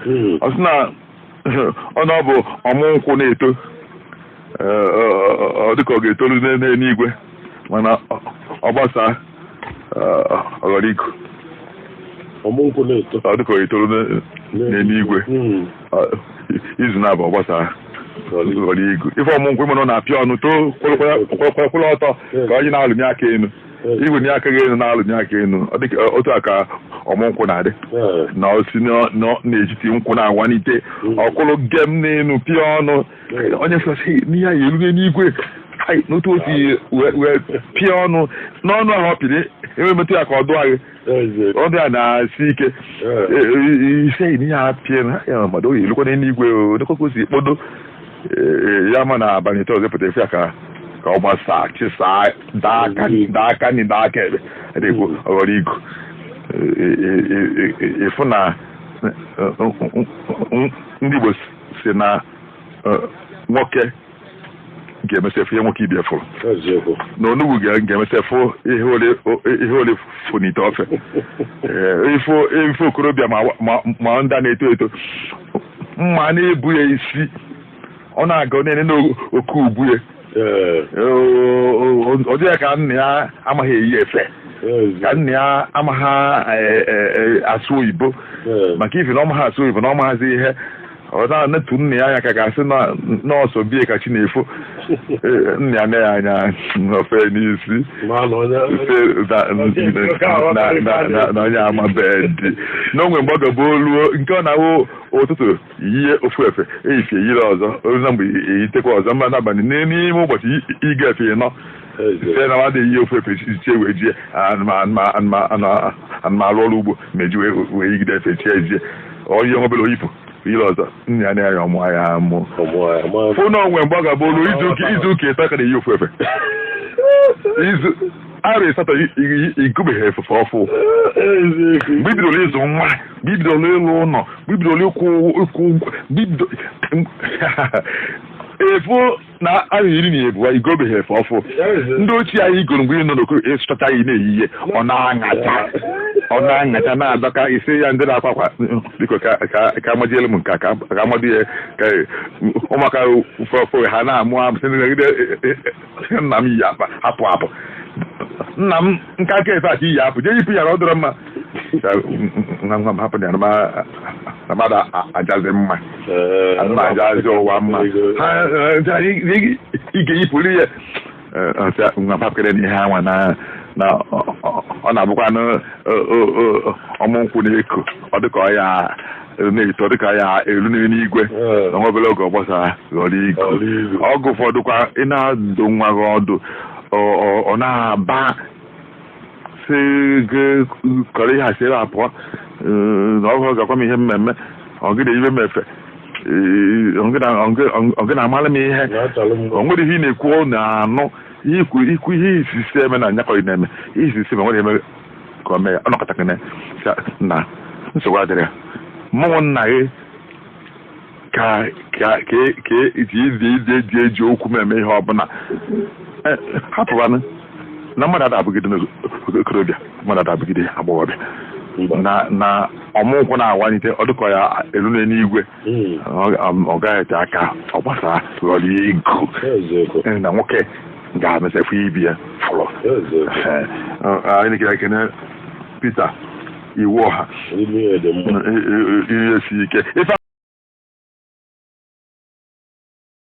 hmm. ọ sị na ọ na ọ bụ ọmụ nkwụ na-eto ọ dịka ọ ga-etoru n'eluigwe mana ọ gbasaa ọ ghọrọ igu ọ dịka ọ ga-etoru n'eluigwe hmm. izu naabọ ọ gbasaa ghọrọ igu ife ọmụ nkwụ mana ọ na-apịa ọnụ too kwụrụ ọtọ ka onye na-alụnye aka elu igwe nye aka gị elu na-alụnye aka elu ọ dịka ọ- otu a ka ọmụ nkwụ na-adị Ee. na o si n'ọ- n'ọ- n'etiti nkwụ na-awanite ọ kwụrụ gem n'elu pịa ọnụ onye sọsị n'ihe anyị erue n'igwe Ai, n'otu o si wee wee pịa ọnụ n'ọnụ ahụ ọ pịrị i nwee metụ ya aka ọ dụọ gị ọ bịa na-esi ike ise ihe a pịa na ya mmadụ ọ ya-elukwa n'eluigwe odekwekwe si kpodo ya mana abalị ịtọ ọzọ pụta ị fụ ya ka ka ọ gbasaa chịsaa daa aka daa aka nri daa aka ekpe adịkwu ọ ghọrọ igu ị fụ na ndị Igbo sị na nwoke ga-emesị afụ ihe nwoke ibe ya fụrụ eziokwu na onugbu ga- ga-emesị afụ ihe ole- o- ihe ole fụ n'ite ofe Ee, ị fụ ị fụ okorobịa ma wa- ma- ma ndị a na-eto eto mma na-ebu ya isi ọ na-aga ọ na-ene n'oke ubu ya ee O- o- ọ dị ya ka nna ya amaghị eyi efe ka eziokwu nna ya amaghị e- e- e- asụ oyibo ee maka ifi na ọ maghị asụ oyibo na ọ maghịzi ihe ọ na-enetụ nna ya anya ka a ga-asị na ọ sọ be ya ka chi na-efo Ee, nna ya nee ya anya o fee n'isi Ma na onye sị na- na- na- na- na onye amabeghị dị na o nwe mgbe ọ ga-abụ o luo nke ọ na-awụ ụtụtụ yie ofu efe efifie yiri ọzọ o ruzie mgbede eyitekwa ọzọ ma n'abalị n'ime ụbọchị i- i ga efe ịnọ site na mmadụ eyi ofu efe chi ewee jie ana m arụ ọrụ ugbo m ji wee yigide efe chi ejie onye nwe obere o yipụ yili ọzọ nna ya nee ya ọ mụa amụ fụ na o nwe mgbe ọ ga-abụ o lu izu ụka izu ụka ịtọ ị ka na-eyi ofu efe i zuo arọ ịsatọ i gobeghị efe ọfụụ mgbe i bidoro ịzụ nwa mgbe i bidoro ịlụ ụlọ mgbe i bidoro ịkwụ ụgwọ mgbe i bido efu na arọ iri na abụa i gobeghị efe ọfụụ ndị ochie ahụ i goro mgbe ị nọ n'okoro ị sụchacha ya ị na-eyi ya ọ na-aṅacha ọ na-aṅacha na-adọka ị sị ya ndị na-akwa akwa biko ka ka- ka amachielu m nke a, ka ka a mado ya ka ụmụaka ụfọdụ ha na-amụ amụ sị negodi nna m yi akpa hapụ hapụ nna m nka aka efe a ka i yi apụ jee yipụ ya na ọ dịrọ mma hapụ ya na mmadụ ajazi mma mma ajazi ụwa mma ị ga-eyipụrụ ya nwa hapụkene ihe anwa na na ọ na-abụkwanụ ọmụ nkwụ na-eko ọ dịka ọ ya na-eto ọ dịka ọ ya elu n'eluigwe na nwa obere oge ọ gbasara ghọrọ igu oge ụfọdụkwa ị na-adụ nwa gị ọdụ ọ na-aba sị gị kọrọ ihe a si ebe a pụọ ee, na ọ bụ gị ga-agwa m ihe m eme ọ gị na-eyibe m efe ee, ọ gị na- ọ gị- ọ gị na-amara m ihe na achọrọ m o nwere ihe ị na-ekwu ọ na-anụ ikwu ikwu ihe isisi eme na anya ka ị na-eme ihe isisi ma nwere eme ka o mee ọ nọkata gị na nsogbu adịrị ya mụ wụ nna gị ka ka ka ka iti ị dị ị dịghị eji okwu m eme ihe ọbụla Eh, hapụbanụ na mmadụ ada abụgide okorobịa mmadụ ada abụgide agbọghọbịa na na ọmụ nkwụ na-awanyite ọ dịka ọ ya elu n'eluigwe Mm. ọ- ọ- ọ gaghị ete aka ọ gbasara ghọrọ ya igu Eziokwu. Eh, na nwoke ga-emesịa fụ ibe ya fụrụ Eziokwu. Eh, ọ- anyị na-ekele ekene Peter Iwuọha Ime ihe dị mma. ihe si ike ife